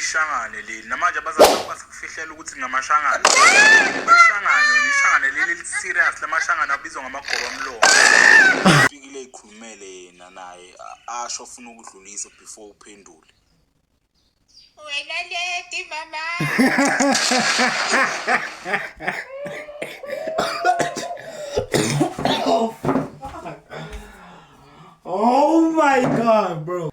ishangane leli namanje abazali bakho basakufihlela ukuthi ngamashangane ishangane wena ishangane leli liserious lamashangane abizwa ngamagoba mlomo fikile eyikhulumele yena naye a- asho afuna ukudlulisa before uphendule Wena lady mama. Oh my god, bro.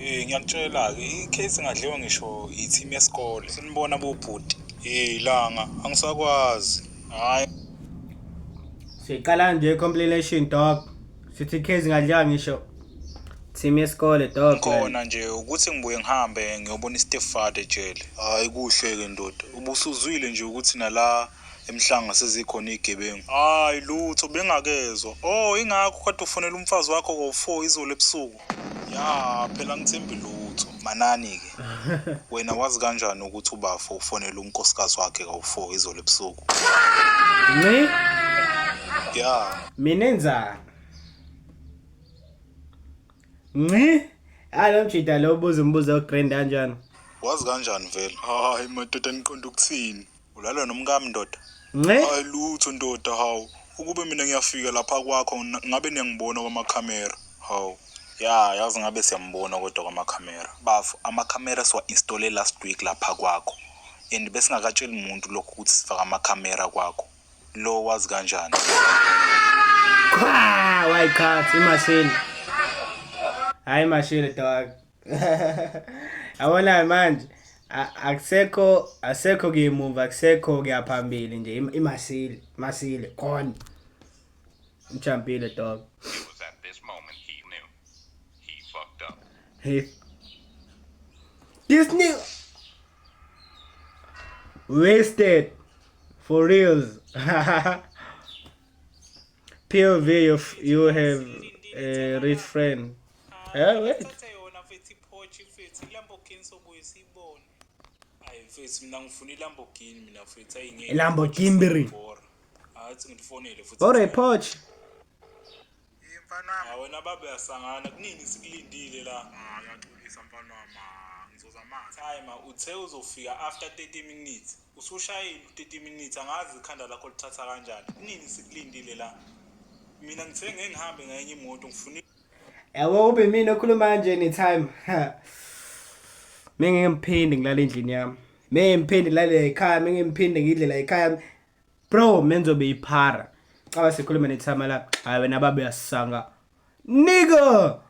Eh ngiyakutshela-ke i-case ngadliwa ngisho i-team yesikole. Sinibona bobhuti. Eh langa angisakwazi. Hayi. Siqala nje compilation dog. Sithi case ngadliwa ngisho team yesikole dog. Khona nje ukuthi ngibuye ngihambe ngiyobona i-stepfather ejele. Hayi kuhle-ke ndoda. Ubusuzwile nje ukuthi nala emhlanga sezikhona iy'gebengu. Hayi lutho bengakezwa. Oh ingakho kade ufonela umfazi wakho ngo-four izolo ebusuku. ya phela ngithembi lutho manani-ke wena wazi kanjani ukuthi ubafo ufonela unkosikazi wakhe kawu-four izolo ebusuku nci ya mina enzani nci hayi lo mjida lo ubuza umbuzo ogrand kanjani wazi kanjani vele hayi madoda niqonda ukuthini Ulala nomkami ndoda. Nce. Hayi lutho ndoda hawu. Ukube mina ngiyafika lapha kwakho ngina- ngabe niyangibona kwamakhamera. Hawu. Ya yazi ngabe siyambona kodwa kwamakhamera. Bafo amakhamera siwa installe last week lapha kwakho. And besingakatsheli muntu lokho ukuthi sifaka amakhamera kwakho. Lo wazi kanjani? Qha, wayiqhathi imashini. Hayi imashini dog. yabona manje akusekho asekho kuyimuva akusekho kuyaphambili nje imasile masile gone uchampile dog Hey. This nigga wasted for reals. POV, you, you have a rich friend. Eh wait. Thatha yona mfethu iphochi mfethu iLamborghini sobuye siyibone. Hayi mfethu mina ngifuna iLamborghini mina mfethu ayingeke. Lamborghini. Athi ngifonele futhi. Bore iphochi. Mfana wami. Hayi wena babe asangana kunini sikulindile la. Ah yaxolisa mfana wami. Ngizoza manje. Hayi ma uthe uzofika after 30 minutes. Usushayile u-30 minutes angazi ikhanda lakho lithatha kanjani. Kunini sikulindile la. Mina ngithe ngeke ngihambe ngenye imoto ngifuna Yabo ube mina okhuluma kanje anytime. Mengeke ngiphinde ngilala endlini yami. Mengeke ngiphinde ngilale ekhaya, mengeke ngiphinde ngidle la ekhaya. Bro, menzobe iphara. Caba sikhuluma nethama la. Hayi wena baba uyasanga. Nigga.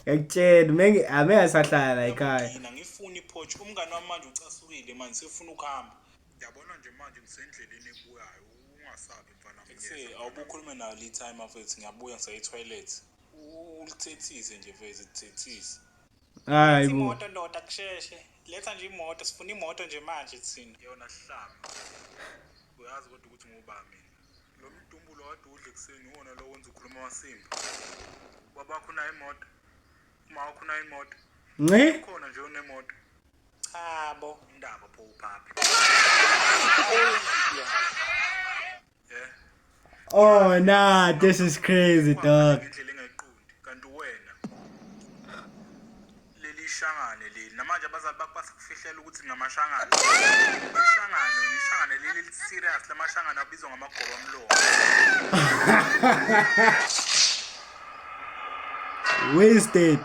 Ngiyakutshela menge ame asahlala la ekhaya. Mina ngifuna iphotch umngane wami manje ucasukile manje sefuna ukuhamba. Yabona nje manje ngisendleleni ebuyayo ungasabi mfana Ethi mnyeza. awube ukhulume nayo lead time mfethu ngiyabuya ngisaye toilet. Ulithethise nje mfethu lithethise. Hayi bo. Imoto ndoda kusheshe. Letha nje imoto sifuna imoto nje manje thina. Yona sihlama. Uyazi kodwa ukuthi ngubani mina. Lo mdumbulo kade udle kuseni uwona lo wenza ukhuluma amasimba. Babakho nayo imoto. Uma wakho nayo imoto. Nce. Khona nje unemoto. Chabo. Indaba pho uphaphi. Oh nah, this is crazy dog. Indlela engayiqondi kanti wena leli shangane leli namanje abazali bakho basakufihlela ukuthi ngamashangane. Ishangane, ishangane leli li serious lamashangane abizwa ngamagoba omlomo. Wasted.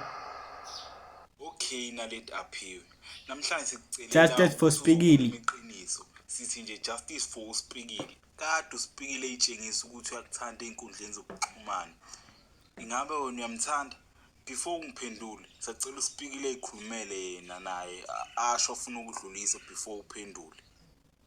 Okay Naledi Aphiwe. Namhlanje sikucelela Justice for Spikili. Iqiniso. Sithi nje justice for uSpikili. Kade uSpikili eyitshengisa ukuthi uyakuthanda einkundleni zokuxhumana. Ingabe wena uyamthanda? Before ungiphendule, sacela uSpikili ezikhulumele yena naye asho afuna ukudlulisa before uphendule.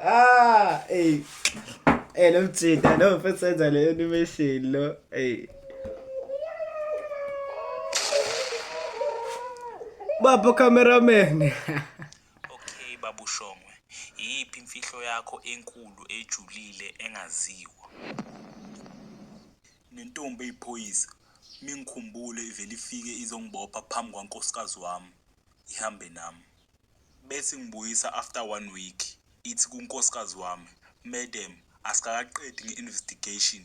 Ah, ey. Ey, lo mjita lo mfethu senza le animation lo. Ey. Baba cameraman. okay babu Shongwe, iyiphi imfihlo yakho enkulu ejulile engaziwa? Nentombi eyiphoyisa mingikhumbule ivele ifike izongibopha phambi kwankosikazi wami ihambe nami. Bese ingibuyisa after one week ithi kunkosikazi wami, Madam asikakaqedi nge investigation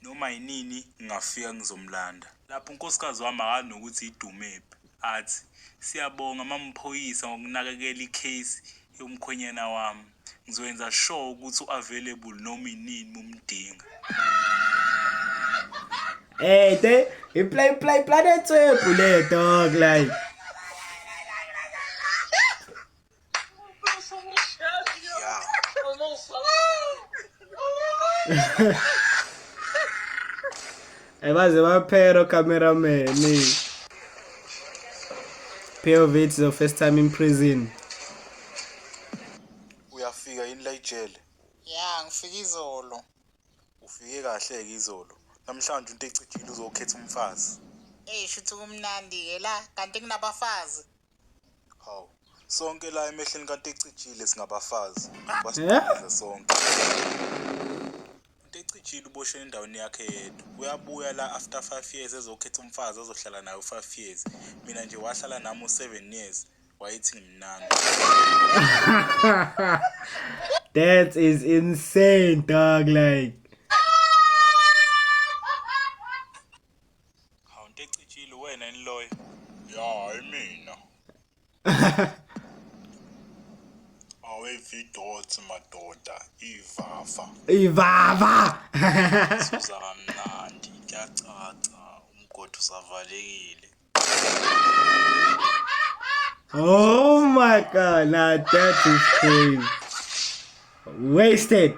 noma yinini ngingafika ngizomlanda. Lapho unkosikazi wami akazi nokuthi yidumephi athi, Siyabonga mamphoyisa ngokunakekela icase yomkhwenyana wami. Ngizoyenza sure ukuthi u-available noma inini mumdinga. Hey, te, i-play play planet webhu le dog like. Hey, baze baphero cameraman. POV it's the first time in prison. Uyafika yini la ijele? Ya, ngifike izolo. Ufike kahle ke izolo. Namhlanje into echithile uzokhetha umfazi. Ey, shuthi kumnandi ke la, kanti kunabafazi. Hawu. Sonke la emehlweni kaNtecijile singabafazi. Basibhekile sonke. Ntecijile uboshwe endaweni yakhe yedwa. Uyabuya la after 5 years ezokhetha umfazi ozohlala naye u5 years. Mina nje wahlala nami u7 years. Wayethi ngimnandi. That is insane, dog. Like, Hawu into ecijile wena yini loyo? Ya, hayi mina. Awevidoti madoda, ivava. Ivava. Suza kamnandi, kuyacaca umgodi usavalekile. Oh my god, now that is crazy. Wasted.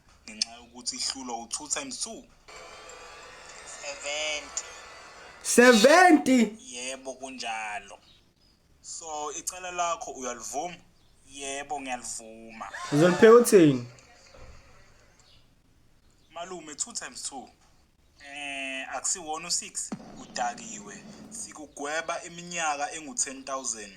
ngenxa yokuthi ihlulwa u-two times two 70 yebo kunjalo so icala lakho uyalivuma yebo ngiyalivuma uzolipheka uthini malume two times two Eh akusiwona u6 udakiwe sikugweba iminyaka engu10000.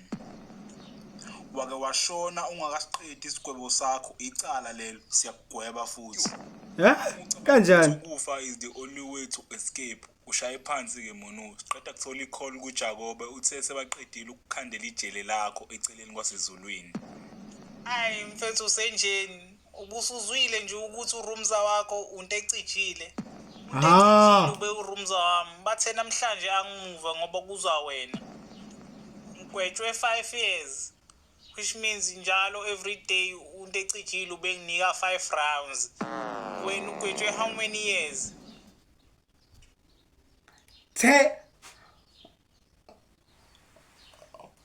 Wake washona ungakasiqedi isigwebo sakho icala lelo siyakugweba futhi. Eh kanjani? Ukufa is the only way to escape. Ushaye phansi ke Monusi. Qeda kuthola i-call kuJakobe uthe sebaqedile ukukhandela ijele lakho eceleni kwasezulwini. Hayi mfethu usenjeni? Ubusuzwile nje ukuthi urumza wakho unto ecijile. Unto Ah. ecijile ube urumza wami. Bathe namhlanje angimuva ngoba kuzwa wena. Ngigwetshwe 5 years. Which means njalo every day unto ecijile ubenginika 5 rounds. Wena ugwetshwe how many years? The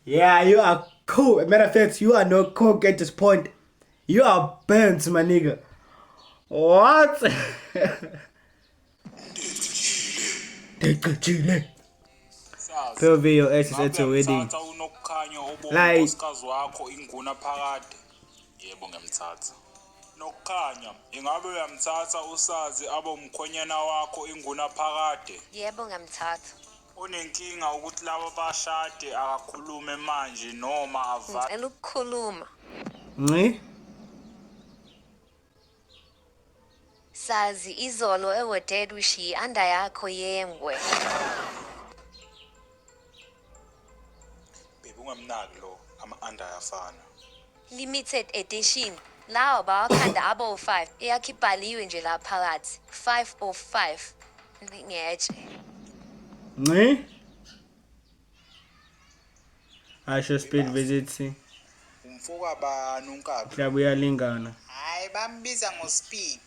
Yeah, you are cool. Matter of fact, you are no coke at this point. You are burnt, my nigga. What? Dicachile. POV your ex is at your wedding. Like. Yebo ngemthatha. nokukhanya ingabe uyamthatha usazi abe umkhwenyana wakho inguna phakade yebo ngamthatha Onenkinga ukuthi laba bashade akakhulume manje noma avale. Ngicela ukukhuluma. Nci. Sazi izolo ewoded ushiye anda yakho yengwe. Baby ungamnaki lo ama anda ayafana. Limited Edition lawa bawakhanda abo 5 eyakhe ibhaliwe nje la phakathi 5 of 5 Nci ngetshe Nci Asho speed visit si Umfo kabani unkabha Hlaba uyalingana Hayi bambiza ngo speed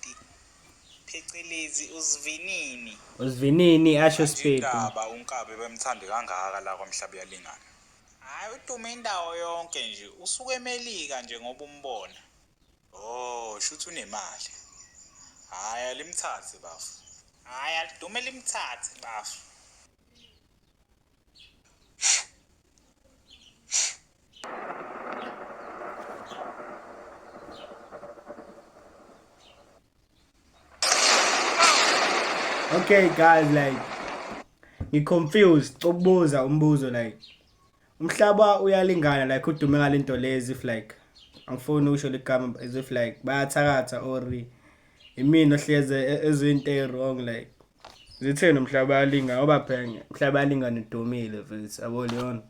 phecelezi usivinini usivinini asho speed Indaba unkabe bemthande kangaka la kwamhlaba uyalingana Hayi udume indawo yonke nje usuke emelika nje ngoba umbona. Oh shuthi unemali. Hayi alimthathe bafo. Hayi alidume limthathe bafo. Okay guys like ngi confused cokubuza umbuzo like umhlaba uyalingana like udume ngalento lezi if like angifuni usho ligama as if like bayathakatha or imina ohleze e-, ezinto wrong like zitheni umhlaba yalinga obaphenge umhlaba yalinga nidumile futhi abole yona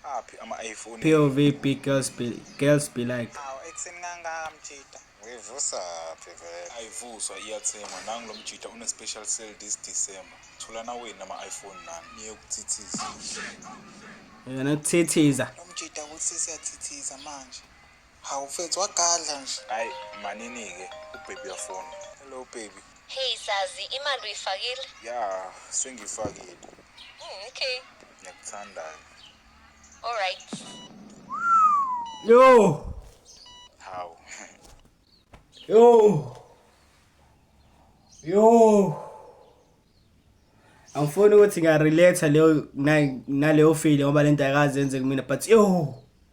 aphi ama-iphone pov big girls be, girls be like awu ekuseni kangaka mjita uyivusa phi vele ayivuswa iyathengwa nangu lo mjita une-special sale this december thulana wenu ama-iphone nami niye ukuthithiza yena ukuthithiza lo mjita ukuthi sesiyathithiza manje Hawu mfethu wagadla nje. Ay manini ke ubaby uyafona. Hello baby. Hey sazi imali uyifakile? Ya sengifakile. Mm, okay. Ngiyakuthandayo. All right. Yo. Hawu. Yo. Yo. Angifuni ukuthi ngiyarelatha leyo na- naleyo feeling ngoba lento ayikaze yenze kumina but yo.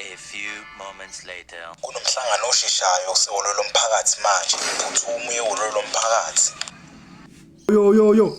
A few moments later. Kunomhlangano osheshayo osehholo lomphakathi manje. Phuthuma uye ehholo lomphakathi. Yo yo yo.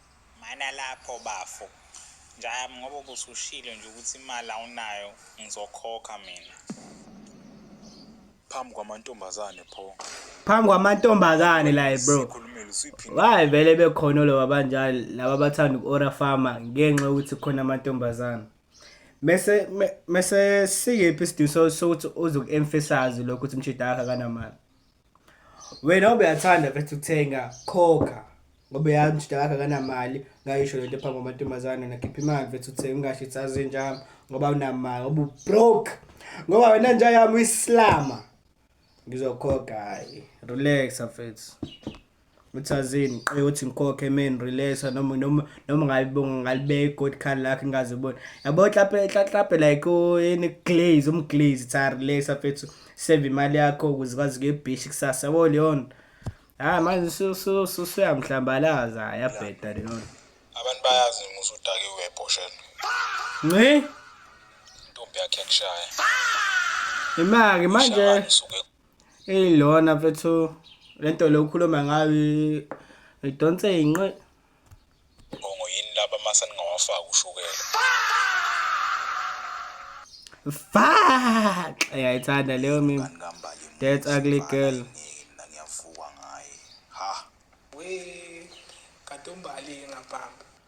Mana lapho bafo. Njayami ngoba ubusushilo nje ukuthi imali awunayo ngizokhokha mina. Phambi kwamantombazane pho. Phambi kwamantombazane la bro. Sikhulumile usuyiphindile. Hayi vele bekhona loba banjalo laba bathanda uku-ora farmer ngenxa yokuthi khona amantombazane. Mese me- mese sikephi isidingo so- sokuthi uze uku-emphasize lokho ukuthi umshidi akhe akanamali. wena ubeyathanda vese ukuthenga khokha ngoba yazi ukuthi akakho akanamali ngayisho lento phambi kwamantombazane nakhipha imali vese uthenga ungasho ukuthi azinjami ngoba unamali ngoba ubroke ngoba wena nja yami uyisilama ngizokhokha hayi relax afethu uthazini qe uthi ngikhokhe men relaxa noma noma noma ngalibonga ngalibeka igod card lakhe ngaze ubona yabo hlape hlape like in glaze um glaze tsa relaxa fethu save imali yakho ukuze kwazi ke beach kusasa yabo leon ha manje so so so suyamhlambalaza yabheda leon abantu bayazi musu udake webhoshela ngi ntombi yakhe kushaya imake manje Eyi lona mfethu le nto le ukhuluma ngayo i- idonse inqe. Bongo yini laba masa ningawafaki ushukela. Fuck! Uyayithanda leyo mimi. Bani kambali emuzi, That's ugly bani girl. ayingeki, mina ngiyavukwa ngaye. Ha. We kade umbali ngaphambi.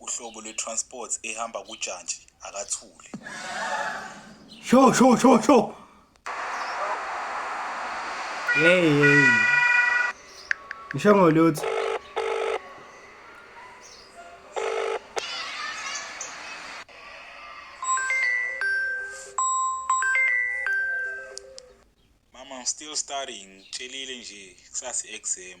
uhlobo lwe-transport ehamba kujantshi akathule sho sho sho sho hey hey ngisho ngolutho mama I'm still studying ngitshelile nje kusasa i-exam